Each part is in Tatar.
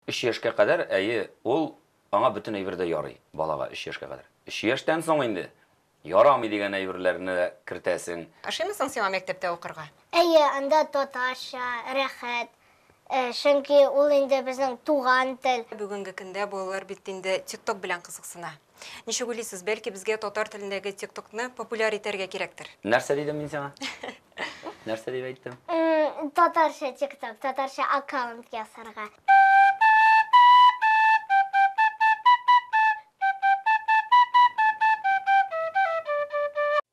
Өч яшькә кадәр, әйе, ул, аңа бөтен әйбер дә ярый, балага, өч яшькә кадәр. Өч яшьтән соң инде ярамый дигән әйберләрне дә кертәсең. Ошыймы соң сиңа мәктәптә укырга? Әйе, анда татарча, рәхәт, чөнки ул инде безнең туган тел. Бүгенге көндә балалар бит инде тик-ток белән кызыксына. Ничек уйлыйсыз, бәлки безгә татар телендәге тиктокны популяр итәргә кирәктер? Нәрсә дидем мин сиңа? Нәрсә дип әйттем? Татарча тикток, татарча аккаунт ясарга.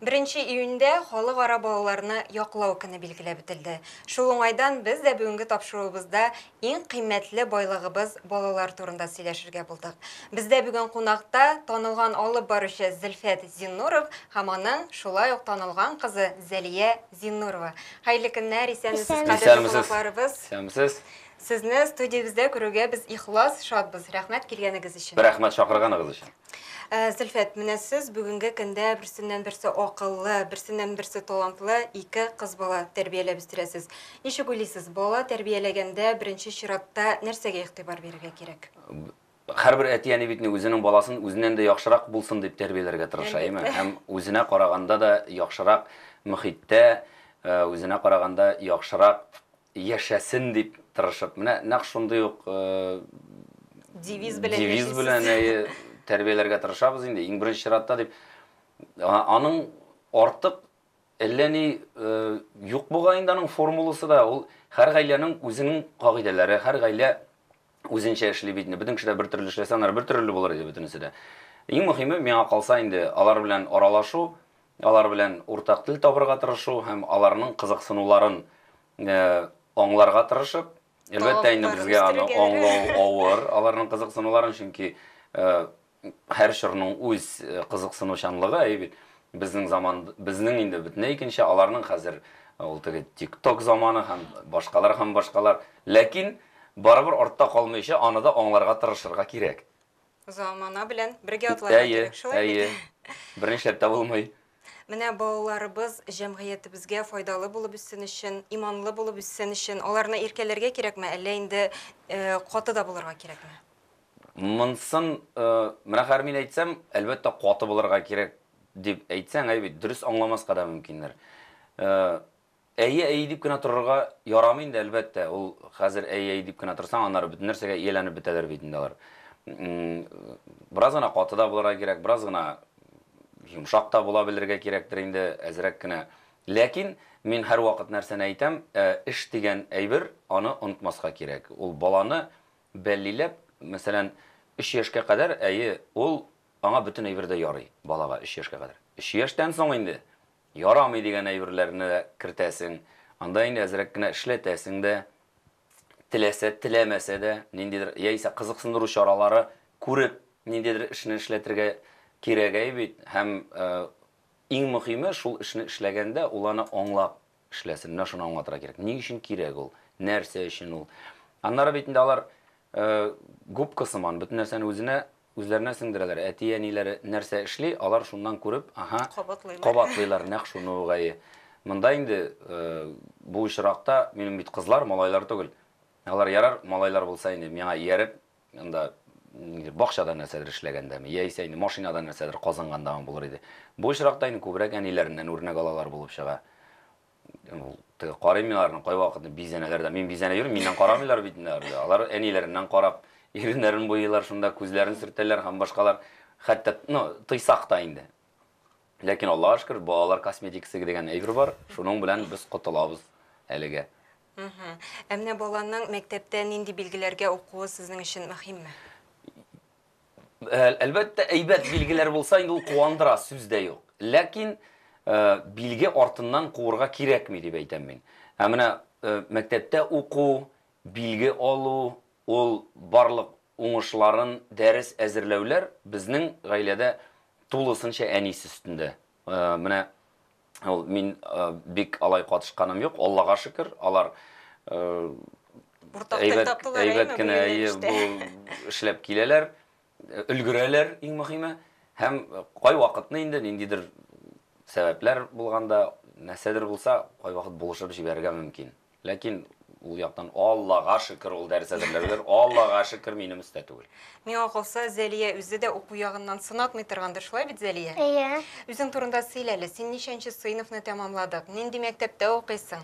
Беренче июньдә Халыкара балаларны яклау көне билгеләп үтелде. Шул уңайдан без дә бүгенге тапшыруыбызда иң кыйммәтле байлыгыбыз балалар турында сөйләшергә булдык. Бездә бүген кунакта танылган алып баручы Зөлфәт Зиннуров һәм аның шулай ук танылган кызы Зәлия Зиннурова. Хәерле көннәр, исәнмесез, кадерле кунакларыбыз. Исәнмесез. Сезне студиябездә күрүгә без ихлас шатбыз. Рәхмәт килгәнегез өчен. Рәхмәт чакырганыгыз өчен. Э, Зөлфәт, менә сез бүгенге көндә берсеннән-берсе акыллы, берсеннән-берсе талантлы ике кыз бала тәрбияләп үстерәсез. Ничек уйлыйсыз, бала тәрбияләгәндә беренче чиратта нәрсәгә игътибар бирергә кирәк? Һәрбер әти-әни бит ни үзенең баласын үзеннән дә яхшырак булсын дип тәрбияләргә тырыша, әйме? Һәм үзенә караганда да яхшырак мөхиттә, э, үзенә караганда яхшырак Яшәсен дип тырышып, менә нәкъ шундый ук девиз белән девиз белән әйе тәрбияләргә тырышабыз инде, иң беренче чиратта дип. Аның артык әллә ни юк буга инде аның формуласы да, ул һәр гаиләнең үзенең кагыйдәләре, һәр гаилә үзенчә эшли бит инде. Бөтен кеше дә бер төрле эшләсә, аннары бер төрле булыр иде бөтенесе дә. Иң мөһиме, миңа калса инде, алар белән аралашу, алар белән уртак тел табырга тырышу һәм аларның кызыксынуларын аңларга тырышып, әлбәттә инде безгә аны аңлау авыр, аларның кызыксынуларын, чөнки Һәр чорның үз кызыксынучанлыгы, әйе бит? Безнең заман, безнең инде бөтенләй икенче, аларның хәзер ул теге тик-ток заманы һәм башкалар һәм башкалар. Ләкин барыбер артта калмыйча, аны да аңларга тырышырга кирәк. Замана белән бергә атларга кирәк, шулай бит? Әйе, әйе. Бернишләп тә булмый. Менә балаларыбыз җәмгыятебезгә файдалы булып үссен өчен, иманлы булып үссен өчен, аларны иркәләргә кирәкме, әллә инде каты да булырга кирәкме? Монсын, менә хәер мин әйтсәм, әлбәттә каты булырга кирәк, дип әйтсәң, әй бит, дөрес аңламаска да мөмкиндер. Әйе, әйе дип кенә торырга ярамый инде, әлбәттә, ул хәзер әйе, әйе дип кенә торсаң, аннары бөтен нәрсәгә ияләнеп бетәләр бит инде алар. Бераз гына каты да булырга кирәк, бераз гына йомшак та була белергә кирәктер инде, әзрәк кенә. Ләкин мин һәрвакыт нәрсәне әйтәм, эш дигән әйбер, аны онытмаска кирәк. Ул баланы Бәллиләп, мәсәлән, өч яшькә кадәр, әйе, ул, аңа бөтен әйбер дә ярый, балага, өч яшькә кадәр. Өч яшьтән соң инде ярамый дигән әйберләрне дә кертәсең, анда инде әзрәк кенә эшләтәсең дә, теләсә, теләмәсә дә, ниндидер, яисә кызыксындыру чаралары күреп, ниндидер эшне эшләтергә кирәгәи бит, һәм иң мөхиме, шул эшне эшләгәндә, ул аны аңлап, эшләсен. Менә шуны аңлатырга кирәк. Ни өчен кирәк ул? Нәрсә өчен ул? Аннары бит инде алар губка сыман бөтен нәрсәне үзенә үзләренә сеңдерәләр. Әти-әниләре нәрсә эшли, алар шуннан күреп, аһа, кабатлыйлар. Кабатлыйлар нәкъ шуны угае. Монда инде бу очракта минем бит кызлар, малайлар түгел. Алар ярар, малайлар булса инде, миңа ияреп, Анда нидер бакчада нәрсәдер эшләгәндәме, яисә инде машинада нәрсәдер казынгандамы булыр иде. Бу очракта инде күбрәк әниләреннән үрнәк алалар булып чыга. Теге карыйм мин аларны кайвакыт бизәнәләр дә. Мин бизәнә йөрим, миннән карамыйлар бит инде алар. Алар әниләреннән карап, иреннәрен буйлыйлар, шунда күзләрен сөртәләр һәм башкалар. Хәтта, ну, тыйсак та инде. Ләкин Аллага шөкер, балалар косметикасы дигән әйбер бар, шуның белән без котылабыз әлегә. Ә менә баланың мәктәптә нинди билгеләргә укуы сезнең өчен мөһимме? Әлбәттә, әйбәт билгеләр булса, инде ул куандыра, сүз дә юк. Ләкин билге артыннан куырга кирәкми дип әйтәм мин. Ә менә мәктәптә уку, билге алу, Ул барлык уңышларын дәрес әзерләүләр безнең гаиләдә тулысынча әнисе өстендә. Менә ул мин бик алай катышканым юк, Аллага шөкер, алар әйбәт кенә бу эшләп киләләр. Өлгерәләр, иң мөһиме. Һәм кайвакытны инде ниндидер сәбәпләр булганда, нәрсәдер булса, кайвакыт булышып җибәрергә мөмкин. Ләкин ул яктан, Аллага шөкер, ул дәрес әзерләүләр, Аллага шөкер, минем өстә түгел. Миңа калса, Зәлия үзе дә уку ягыннан сынатмый торгандыр, шулай бит, Зәлия? Әйе. Үзең турында сөйлә әле, син ничәнче сыйныфны тәмамладык, нинди мәктәптә укыйсың?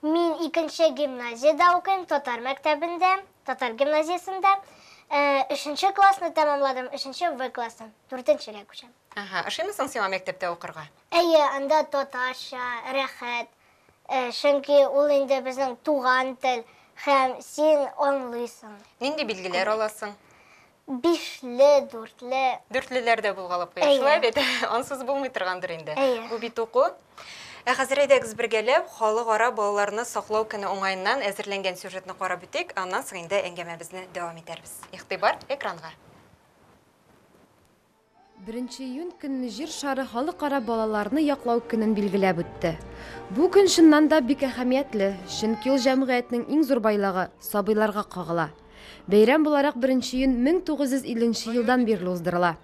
Мин икенче гимназиядә укыйм, татар мәктәбендә, татар гимназиясендә. Өченче классны тәмамладым, өченче В классын, дүртенчегә күчәм. Аһа, ошыймы соң сиңа мәктәптә укырга? Әйе, анда татарча, рәхәт, чөнки ул инде безнең туган тел һәм син аңлыйсың. Нинди билгеләр аласың? Бишле, дүртле. Дүртлеләр дә булгалап куя. Шулай бит? Ансыз булмый торгандыр инде. Бу бит уку. Ә хәзер әйдәгез бергәләп Халыкара балаларны саклау көне уңаеннан әзерләнгән сюжетны карап үтик, аннан соң инде әңгәмәбезне дәвам итәрбез. Игътибар экранга. Беренче июнь көнне Җир шары халыкара балаларны яклау көнен билгеләп үтте. Бу көн чыннан да бик әһәмиятле, чөнки ул җәмгыятьнең иң зур байлыгы, сабыйларга кагыла. Бәйрәм буларак беренче июнь 1950 нче елдан бирле уздырыла.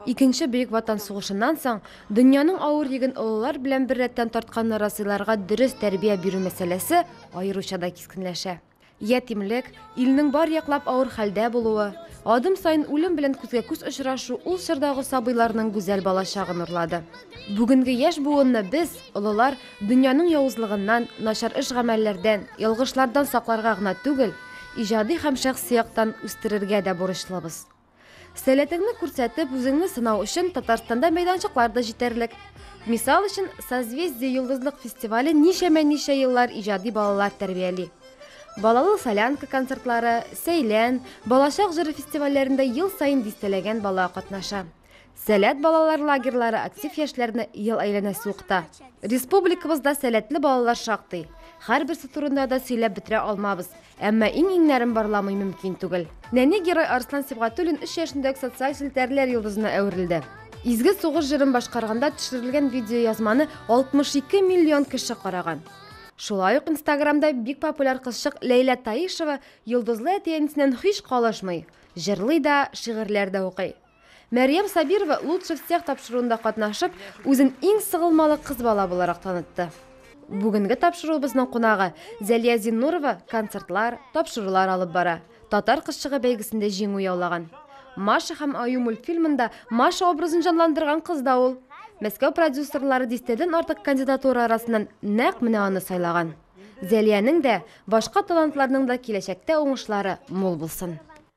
Икенче Бөек Ватан сугышыннан соң дөньяның авыр йөген олылар белән беррәттән тартканны раслыйларга дөрес тәрбия бирү мәсьәләсе аеруча да кискенләшә. Ятимлек, илнең бар яклап авыр хәлдә булуы, адым саен үлем белән күзгә-күз очрашу ул чордагы сабыйларның гүзәл балачагын урлады. Бүгенге яшь буынны без, олылар, дөньяның явызлыгыннан, начар эш-гамәлләрдән, ялгышлардан сакларга гына түгел, иҗади һәм шәхси яктан үстерергә дә бурычлыбыз. Сәләтеңне күрсәтеп, үзеңне сынау өчен Татарстанда мәйданчыклар да җитәрлек. Мисал өчен, Созвездие йолдызлык фестивале ничәмә-ничә еллар иҗади балалар тәрбияли. Балалы солянка концертлары, Сәйлән, Балачак җыры фестивальләрендә ел саен дистәләгән бала катнаша. Сәләт балалар лагерьлары актив яшьләрне ел әйләнәсе укыта. Республикабызда сәләтле балалар шактый. Һәрберсе турында да сөйләп бетерә алмабыз, әмма иң-иңнәрен барламый мөмкин түгел. Нәни герой Арслан Сибгатуллин 3 яшендә үк социаль челтәрләр йолдызына әверелде. Изге сугыш җырын башкарганда төшерелгән видеоязманы 62 миллион кеше караган. Шулай ук Инстаграмда бик популяр кызчык Ләйлә Таишева йолдызлы әти-әнисеннән һич калышмый, җырлый да, шигырьләр дә укый. Мәрьям Сабирова Лучше всех тапшыруында катнашып, үзен иң сыгылмалы кыз бала буларак танытты. Бүгенге тапшыруыбызның кунагы Зәлия Зиннурова концертлар, тапшырулар алып бара. Татар кызчыгы бәйгесендә җиңү яулаган. Маша һәм Аю мультфильмында Маша образын җанландырган кыз да ул. Мәскәү продюсерлары дистәдән артык кандидатура арасыннан нәкъ менә аны сайлаган. Зәлиянең дә, башка талантларның да киләчәктә уңышлары мул булсын!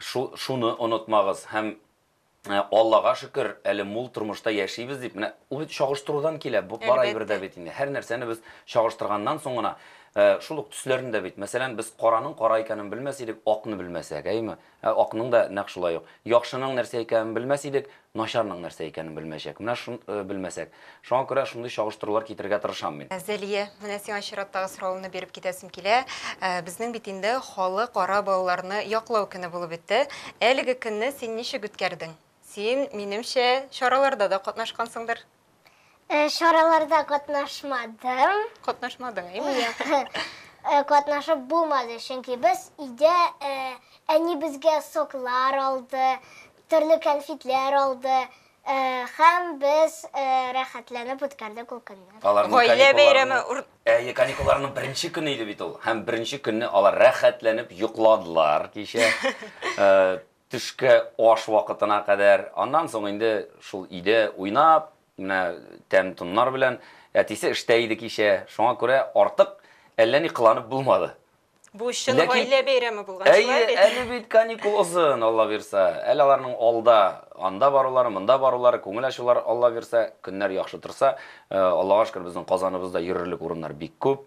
Шу-шуны онытмагыз һәм Аллага шөкер, әле мул тормышта яшибез дип, менә ул бит чагыштырудан килә, бу бар әйбер дә бит инде. Һәр нәрсәне без чагыштырганнан соң гына, шул ук төсләрне дә бит, мәсәлән, без караның кара икәнен белмәс идек, акны белмәсәк, әйеме? Ә акның да нәкъ шулай ук. Яхшының нәрсә икәнен белмәс идек, Начарның нәрсә икәнен белмәячәк. Менә шун, белмәсәк. Шуңа күрә шундый чагыштырулар китерергә тырышам мин. Зәлия, менә сиңа чираттагы соравымны биреп китәсем килә. Безнең бит инде Халыкара балаларны яклау көне булып үтте. Әлеге көнне син ничек үткәрдең? Син, минемчә, чараларда да катнашкансыңдыр? Чараларда катнашмадым. Катнашмадың, әйме? Юк. Катнашып булмады, чөнки без өйдә әни безгә соклар алды, төрле конфетлар алды һәм без рәхәтләнеп үткәрдек ул көнне. Гаилә бәйрәме. Әйе, каникулларның беренче көне иде бит ул. Һәм беренче көнне алар рәхәтләнеп йокладылар кичә. Төшке аш вакытына кадәр, аннан соң инде шул өйдә уйнап, менә тәм-томнар белән. Әтисе эштә иде кичә, шуңа күрә артык әллә ни кыланып булмады. Бу чын Ләкин... гаилә бәйрәме булган, шулай бит? Әйе, әле бит каникул озын, Алла бирса. Әле аларның алда, анда барулары, монда барулары, күңел ачулары, Алла бирса, көннәр яхшы торса. Аллага шөкер, безнең Казаныбызда йөрерлек урыннар бик күп.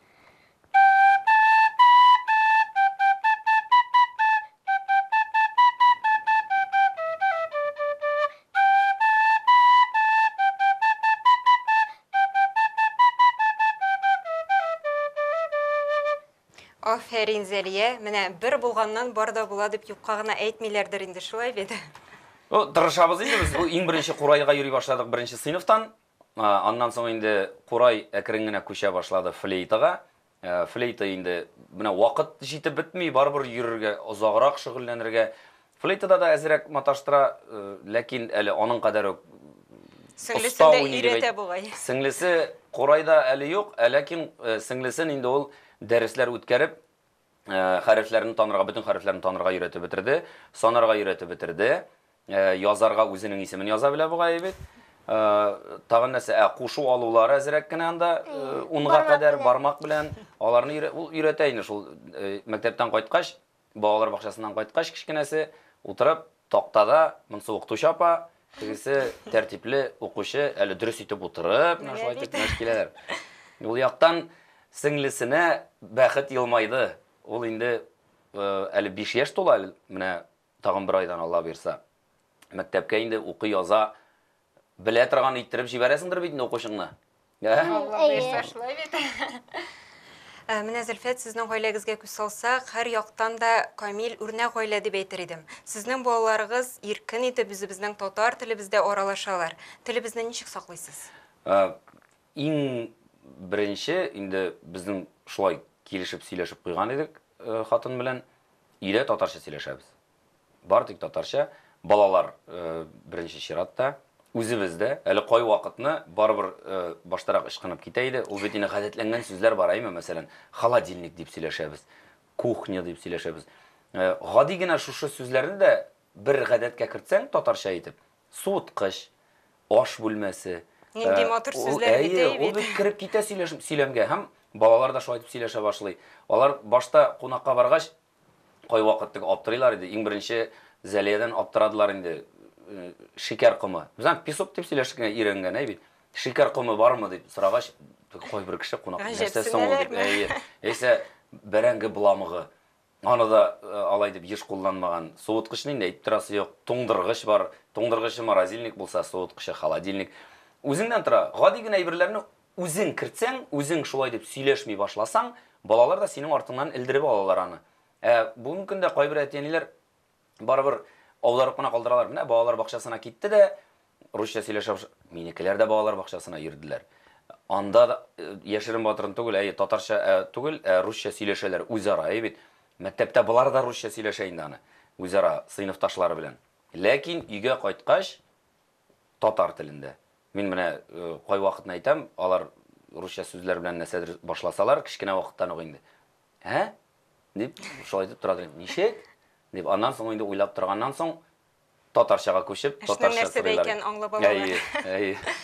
Афәрин, Зәлия. Менә бер булганнан бар да була дип юкка гына әйтмиләрдер инде, шулай бит? Ну, тырышабыз инде без. Бу иң беренче курайга йөри башладык беренче сыйныфтан. Аннан соң инде Курай әкрен генә күчә башлады флейтага. Флейта инде менә вакыт җитеп бетми, барыбер йөрергә, озаграк шөгыльләнергә. Флейтада да әзрәк маташтыра, ләкин әле аның кадәр үк оста уйный дип әйтә. Сеңлесе Курайда әле юк, ләкин сеңлесен инде ул дәресләр үткәреп, хәрефләрне танырга, бөтен хәрефләрне танырга өйрәтеп бетерде, санарга өйрәтеп бетерде, язарга үзенең исемен яза белә бугай бит. Тагын нәрсә, ә кушу алулары әзрәк кенә анда унга кадәр бармак белән аларны өйрәтә инде шул мәктәптән кайткач, балалар бакчасыннан кайткач кечкенәсе утырып Тактада моңсуыкту чапа, тегесе тәртипле укучы, әле дөрес итеп утырып, менә шулай итеп мәш киләләр. Ул яктан сеңлесенә бәхет елмайды. Ул инде әле биш яшь тула, менә тагын бер айдан, Алла боерса, мәктәпкә инде укый-яза Белә торган иттереп җибәрәсеңдер бит инде укучыңны. Ә? Әйе. Шулай бит. Ә, Менә Зөлфәт, сезнең гаиләгезгә күз салсак, һәр яктан да камил үрнәк гаилә дип әйтер идем. Сезнең балаларыгыз иркен итеп үзебезнең татар телебездә аралашалар. Телебезне ничек саклыйсыз? Ә, Иң беренче инде безнең шулай килешеп сөйләшеп куйган идек э, хатын белән. Өйдә татарча сөйләшәбез. Бары тик татарча. Балалар, беренче чиратта. Үзебез дә. Әле кайвакытны барыбер баштарак ычкынып китә иде. Ул бит инде гадәтләнгән сүзләр бар, әйме? Мәсәлән, холодильник дип сөйләшәбез, кухня дип сөйләшәбез. Гади генә шушы сүзләрне дә бер гадәткә кертсәң, татарча итеп, суыткыч, аш бүлмәсе. Нинди матур сүзләр бит, әйе бит. Ул бит кереп китә сөйләшем, сөйләмгә. Һәм балалар да шулай итеп сөйләшә башлый. Алар башта кунакка баргач, Кайвакыт тик аптырыйлар иде. Иң беренче Зәлиядән аптырадылар инде. Шикәр комы. Без аны песок дип сөйләштек инде, өйрәнгән, әй бит. Шикәр комы бармы дип сорагач, кайбер кеше кунак, нәрсә соң ул дип. Әйе. Яисә бәрәңге бламыгы. Аны да алай дип еш кулланмаган. Суыткычны инде әйтеп торасы юк. Туңдыргыч бар. Туңдыргычы морозильник булса, суыткычы холодильник. Үзеңнән тора. Гади генә әйберләрне Үзең кертсәң, үзең шулай дип сөйләшми башласаң, балалар да синең артыңнан элдереп алалар аны. Ә бүген көндә кайбер әти-әниләр барыбер аударып кына калдыралар. Менә балалар бакчасына китте дә, русча сөйләшә башлады. Минекеләр дә балалар бакчасына йөрделәр. Анда да яшерен-батырын түгел, әйе, татарча түгел, ә русча сөйләшәләр үзара, әйе бит. Мәктәптә болар да русча сөйләшә инде аны үзара, сыйныфташлары белән. Ләкин өйгә кайткач, татар телендә. Мин менә кайвакытны әйтәм, алар русча сүзләр белән нәрсәдер башласалар, кечкенә вакыттан ук инде. Ә? дип, шулай итеп тора торыйм. Ничек? дип, аннан соң инде уйлап торганнан соң, татарчага күчеп, татарча сорыйлар. Нәрсәдә икәнен аңлап алалар. Әйе, әйе.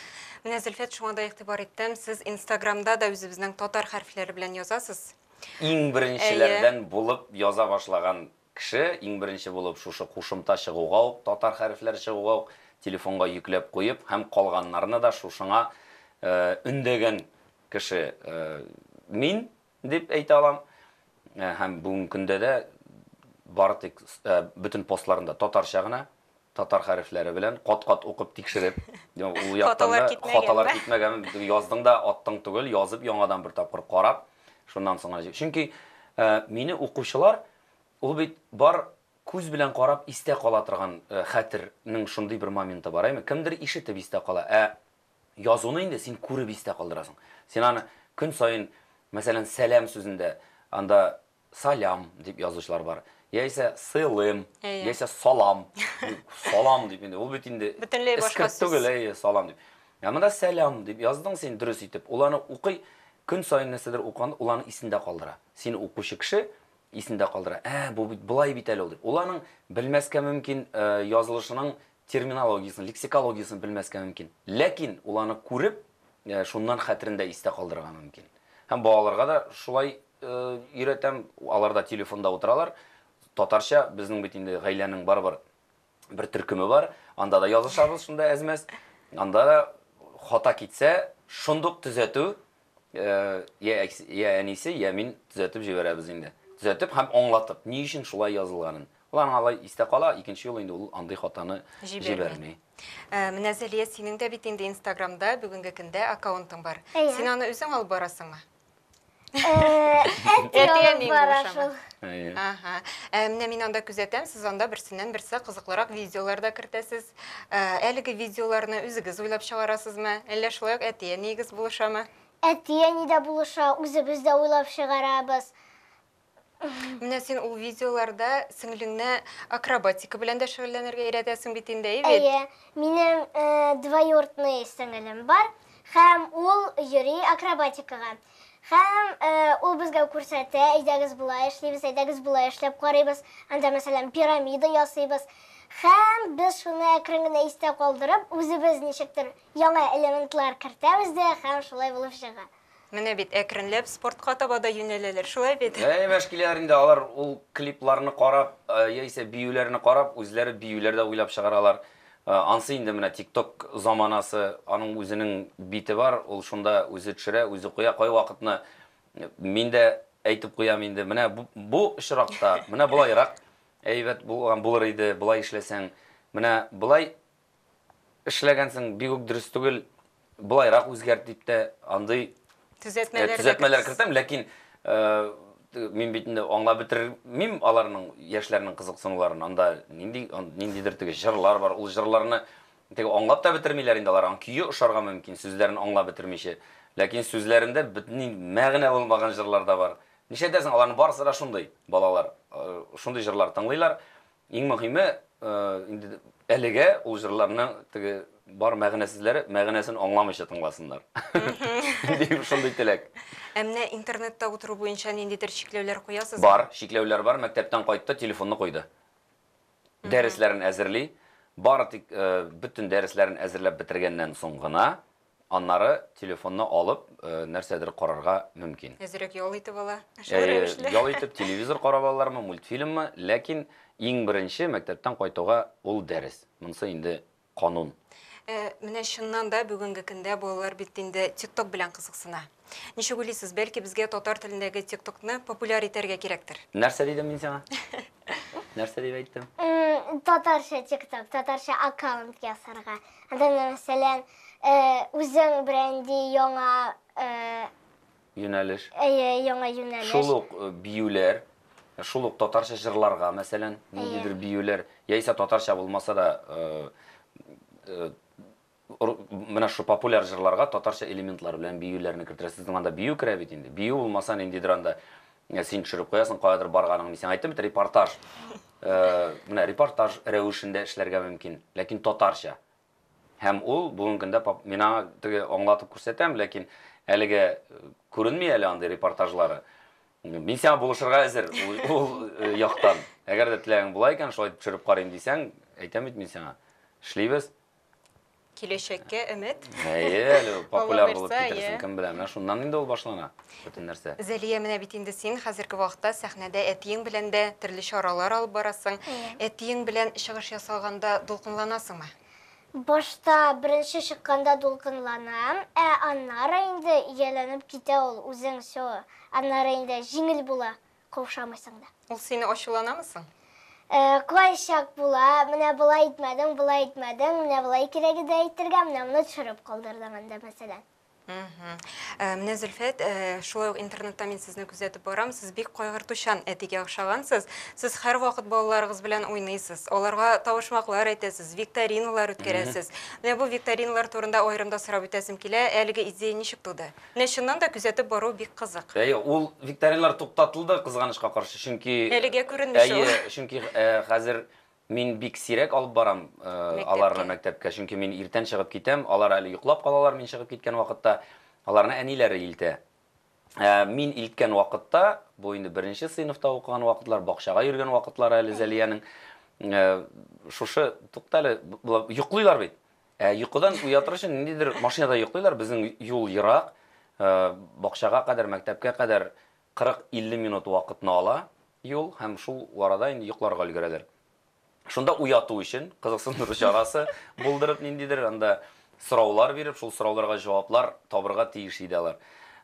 Менә, Зөлфәт, шуңа да игътибар иттем, сез Инстаграмда да үзебезнең татар хәрефләре белән язасыз. Иң беренчеләрдән булып яза башлаган Кеше, иң беренче булып, шушы кушымта чыгуга ук, татар хәрефләре чыгуга ук, телефонга йөкләп куеп һәм калганнарны да шушыңа өндәгән кеше мин дип әйтә алам. Һәм бүгенге көндә дә бары тик бөтен постларында татарча гына, татар хәрефләре белән кат-кат укып тикшереп, ул яктан да хаталар китмәгән, яздың да аттың түгел, язып яңадан бер тапкыр карап, шуннан соң гына. Чөнки мине укучылар ул бит бар күз белән карап истә кала торган хәтернең шундый бер моменты бар, әйме? Кемдер ишетеп истә кала, ә язуны инде син күреп истә калдырасың. Син аны көн саен, мәсәлән, сәлам сүзендә анда Салям дип язучылар бар. Яисә сылым, Әйе. яисә салам. Ну, Салам дип инде. Ул бит инде Бөтенләй башка эскерт сүз. түгел, әйе, салам дип. Ә монда сәлам дип яздың син дөрес итеп. Ул аны укый, көн саен нәрсәдер укыганда, ул аны исендә калдыра. Сине укучы кеше исендә калдыра. Ә, бу бит болай бит әле ул дип. Ул аның белмәскә мөмкин э, язылышының терминологиясен, лексикологиясен белмәскә мөмкин. Ләкин ул аны күреп, э, шуннан хәтерендә истә калдырырга мөмкин. Һәм балаларга да шулай өйрәтәм, алар да телефонда утыралар, татарча, безнең бит инде гаиләнең барыбер бер төркеме бар, анда да язышабыз шунда әз-мәз, анда да хата китсә, шундук төзәтү, я я әнисе, я мин төзәтеп җибәрәбез инде, төзәтеп һәм аңлатып, ни өчен шулай язылганын, ул аңа алай истә кала, икенче юлы инде ул андый хатаны җибәрми. Менә Зәлия, синең дә бит инде инстаграмда бүгенге көндә аккаунтың бар, син аны үзең алып барасыңмы? Әтиәнең бара шул. Ага. Ә менә мин анда күзәтәм, сез анда берсеннән берсе кызыклырак видеолар да кертәсез. Әлеге видеоларны үзегез уйлап чыгарасызмы? Әллә шулай ук әтиәнигез булышамы? Әтиәни дә булыша, үзебез дә уйлап чыгарабыз. Менә син ул видеоларда сеңлеңне акробатика белән дә шөгыльләнергә өйрәтәсең бит инде, әйе бит? Әйе, минем э, двоюродный сеңелем бар һәм ул йөри акробатикага. Һәм э, ул безгә күрсәтә, әйдәгез болай эшлибез, әйдәгез болай эшләп карыйбыз. Анда, мәсәлән, пирамида ясыйбыз. Һәм без шуны әкрен генә истә калдырып, үзебез ничектер яңа элементлар кертәбез дә һәм шулай булып чыга. Менә бит, әкренләп спортка таба да юнәләләр, шулай бит? Әй, мәшкиләр инде, алар ул клипларны карап, яисә биюләрне карап, үзләре биюләр дә уйлап чыгаралар. Ансы инде менә тик-ток заманасы, аның үзенең бите бар, ул шунда үзе төшерә, үзе куя, кайвакытны мин дә әйтеп куям инде, менә бу очракта, менә болайрак әйбәт булган булыр иде, болай эшләсәң, менә болай Эшләгәнсең, бик үк дөрес түгел, болайрак үзгәрт дип тә андый Төзәтмәләр төзәтмәләр кертәм, ләкин мин бит инде аңлап бетермим аларның яшьләрнең кызыксынуларын. Анда нинди ниндидер теге җырлар бар, ул җырларны теге аңлап та бетермиләр инде алар. Аң көе ошарга мөмкин, сүзләрен аңлап бетермичә. Ләкин сүзләрендә бөтенләй мәгънә булмаган җырлар да бар. Нишләтәсең, аларның барысы да шундый, балалар шундый җырлар тыңлыйлар. Иң мөһиме, инде әлегә ул җырларның теге бар мәгънәсезләре мәгънәсен аңламыйча тыңласыннар. Дип шундый теләк. Ә менә интернетта утыру буенча ниндидер чикләүләр куясызмы? Бар, чикләүләр бар. Мәктәптән кайтты, телефонны куйды. Дәресләрен әзерли. Бары тик бөтен дәресләрен әзерләп бетергәннән соң гына Аннары телефонны алып, нәрсәдер карарга мөмкин. Әзрәк ял итеп ала, шул рәвешле. Ял итеп, телевизор карап алалармы, мультфильммы, ләкин иң беренче мәктәптән кайтуга ул дәрес. Монысы инде канун. Менә чыннан да бүгенге көндә балалар бит инде тик-ток белән кызыксына. Ничек уйлыйсыз, бәлки безгә татар телендәге тик-токны популяр итәргә кирәктер? Нәрсә дидем мин сиңа? Нәрсә дип әйттем? Татарча тик-ток, татарча аккаунт ясарга. Анда, мәсәлән, үзең бренди яңа юнәлеш. Әйе, яңа юнәлеш. Шул ук биюләр, шул ук татарча җырларга, мәсәлән, ниндидер биюләр, яисә татарча булмаса да менә шул популяр җырларга татарча элементлар белән биюләрне кертергә. Сезнең анда бию керә бит инде. Бию булмаса, ниндидер анда Менә син төшереп куясың, каядыр барганың. Мин сиңа әйттем бит, репортаж. Менә репортаж рәвешендә эшләргә мөмкин, ләкин татарча. Һәм ул бүгенге көндә мин аңа теге аңлатып күрсәтәм, ләкин әлегә күренми әле андый репортажлары. Мин сиңа булышырга әзер ул яктан. Әгәр дә теләгең була икән, шулай итеп төшереп карыйм дисәң, әйтәм бит мин сиңа. Эшлибез. Киләчәккә өмет. Әйе, әле популяр булып Алла бирса, китерсең, әйе. кем белә. Менә шуннан инде ул башлана, бөтен нәрсә. Зәлия, менә бит инде син хәзерге вакытта сәхнәдә әтиең белән дә төрле чаралар алып барасың. Әйе. Әтиең белән чыгыш ясаганда дулкынланасыңмы? Башта, беренче чыкканда дулкынланам, ә аннары инде ияләнеп китә ул, үзең всё. Аннары инде җиңел була. каушамыйсың да. Ул сине ачуланамы соң? Кайчак була, менә болай итмәдең, болай итмәдең, менә болай кирәк иде әйтергә, менә моны төшереп калдырдың инде, мәсәлән. Менә Зөлфәт, шулай ук интернетта мин сезне күзәтеп барам, сез бик кайгыртучан әтигә охшагансыз. Сез һәрвакыт балаларыгыз белән уйныйсыз, аларга тавышмаклар әйтәсез, викториналар үткәрәсез. Менә бу викториналар турында аерым да сорап үтәсем килә, әлеге идея ничек туды? Менә чыннан да күзәтеп бару бик кызык. Әйе, ул викториналар туктатылды, кызганычка каршы, чөнки Әлегә күренмешә ул. Әйе, чөнки хәзер мин бик сирәк алып барам аларны мәктәпкә, чөнки мин иртән чыгып китәм, алар әле йоклап калалар мин чыгып киткән вакытта, аларны әниләре илтә. Ә мин илткән вакытта, бу инде беренче сыйныфта укыган вакытлар, бакчага йөргән вакытлары әле Зәлиянең, шушы, туктале, йоклыйлар бит. Ә йокыдан уятыр өчен ниндидер машинада йоклыйлар, безнең юл ерак, э, бакчага кадәр, мәктәпкә кадәр 40-50 минут вакытны ала юл, һәм шул арада инде йокларга өлгерәләр. Шунда уяту өчен кызыксындыру чарасы булдырып ниндидер анда сораулар биреп, шул сорауларга җаваплар табырга тиеш иде алар.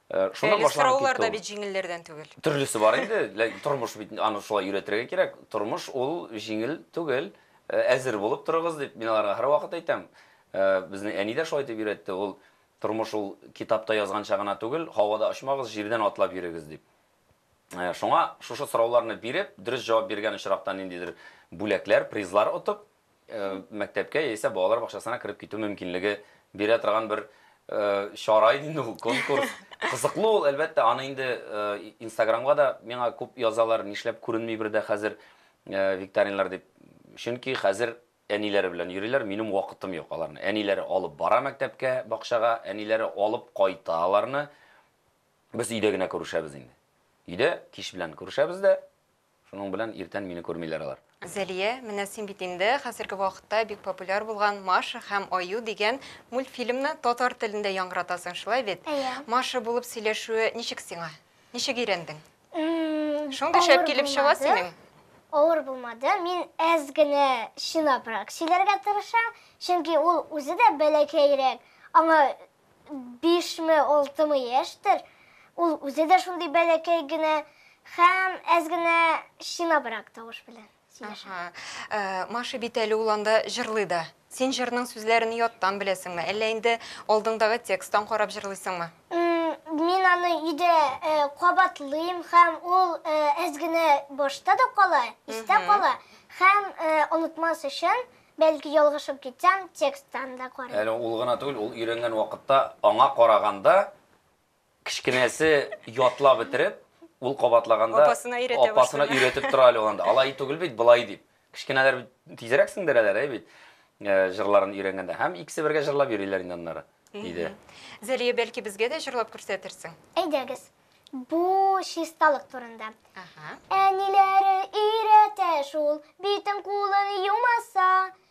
Э, шуннан Әле башланып сораулар да бит җиңелләрдән түгел. Төрлесе бар инде, тормыш бит аны шулай өйрәтергә кирәк. Тормыш ул җиңел түгел. Әзер булып торыгыз, дип мин аларга һәрвакыт әйтәм. Безнең әни дә шулай итеп өйрәтте. Ул, Тормыш ул китапта язганча гына түгел, һавада очмагыз, җирдән атлап йөрегез, дип. Шуңа шушы сорауларны биреп, дөрес җавап биргән очракта ниндидер бүләкләр, призлар отып, мәктәпкә яисә балалар бакчасына кереп китү мөмкинлеге бирә торган бер чара иде инде ул, конкурс. Кызыклы ул, әлбәттә, аны инде Инстаграмга да миңа күп язалар, нишләп күренми бер дә хәзер. Викторинлар дип, чөнки хәзер әниләре белән йөриләр, минем вакытым юк аларны. Әниләре алып бара мәктәпкә, бакчага, әниләре алып кайта аларны. Без өйдә генә күрешәбез инде. Өйдә кич белән күрешәбез дә, шуның белән иртән мине күрмиләр алар. Зәлия, менә син бит инде хәзерге вакытта бик популяр булган Маша һәм Аю дигән мультфильмны татар телендә яңгыратасың, шулай бит? Әйе. Маша булып сөйләшүе ничек сиңа? Ничек өйрәндең? Шундый шәп килеп чыга синең. Авыр булмады. Мин әз генә чынабрак сөйләргә тырышам, чөнки ул үзе дә бәләкәйрәк. Аңа 5 ме, 6 ме яшьтер. Ул үзе дә шундый бәләкәй генә һәм әз генә чынабрак тавыш белән. Аха. Э, Маша бит әле ул анда җырлый да. Син җырның сүзләрен яттан беләсеңме? Әллә инде алдыңдагы тексттан карап җырлыйсыңмы? М, Мин аны өйдә э, кабатлыйм һәм ул э, әз генә башта да кала, истә кала һәм э, онытмас өчен, бәлки ялгышып китсәм, тексттан да карыйм. Әле ул гына түгел, ул өйрәнгән вакытта аңа караганда Кечкенәсе ятлап бетереп, ул кабатлаганда апасына өйрәтә башлый. Апасына өйрәтеп тора әле анда. Алай түгел бит, былай дип. Кечкенәләр бит тизрәк сеңдерәләр, әй бит. Э, җырларын өйрәнгәндә. Һәм икесе бергә җырлап йөриләр инде аннары, диде. Зәлия, бәлки безгә дә җырлап күрсәтерсең? Әйдәгез. Бу чисталык турында. Әниләре өйрәтә шул, битен кулын юмаса,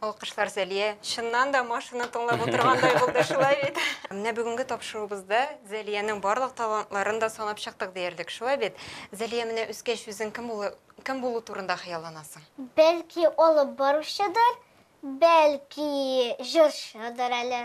Алкышлар Зәлия. Чыннан да машина тыңлап утыргандай булды, шулай бит? Менә бүгенге тапшыруыбызда Зәлиянең барлык талантларын да санап чыктык диярлек, шулай бит? Зәлия, менә үскәч үзең кем булу, кем булу турында хыялланасың? Бәлки алып баручыдыр, бәлки җырчыдыр әле.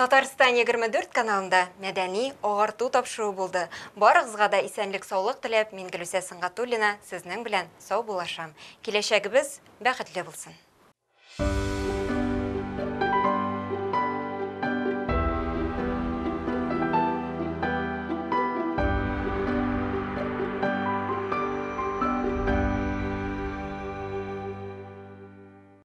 Татарстан 24 каналында мәдәни, агарту тапшыруы булды. Барыгызга да исәнлек-саулык теләп, мин Гөлүсә Сөнгатуллина сезнең белән саубуллашам. Киләчәгебез бәхетле булсын!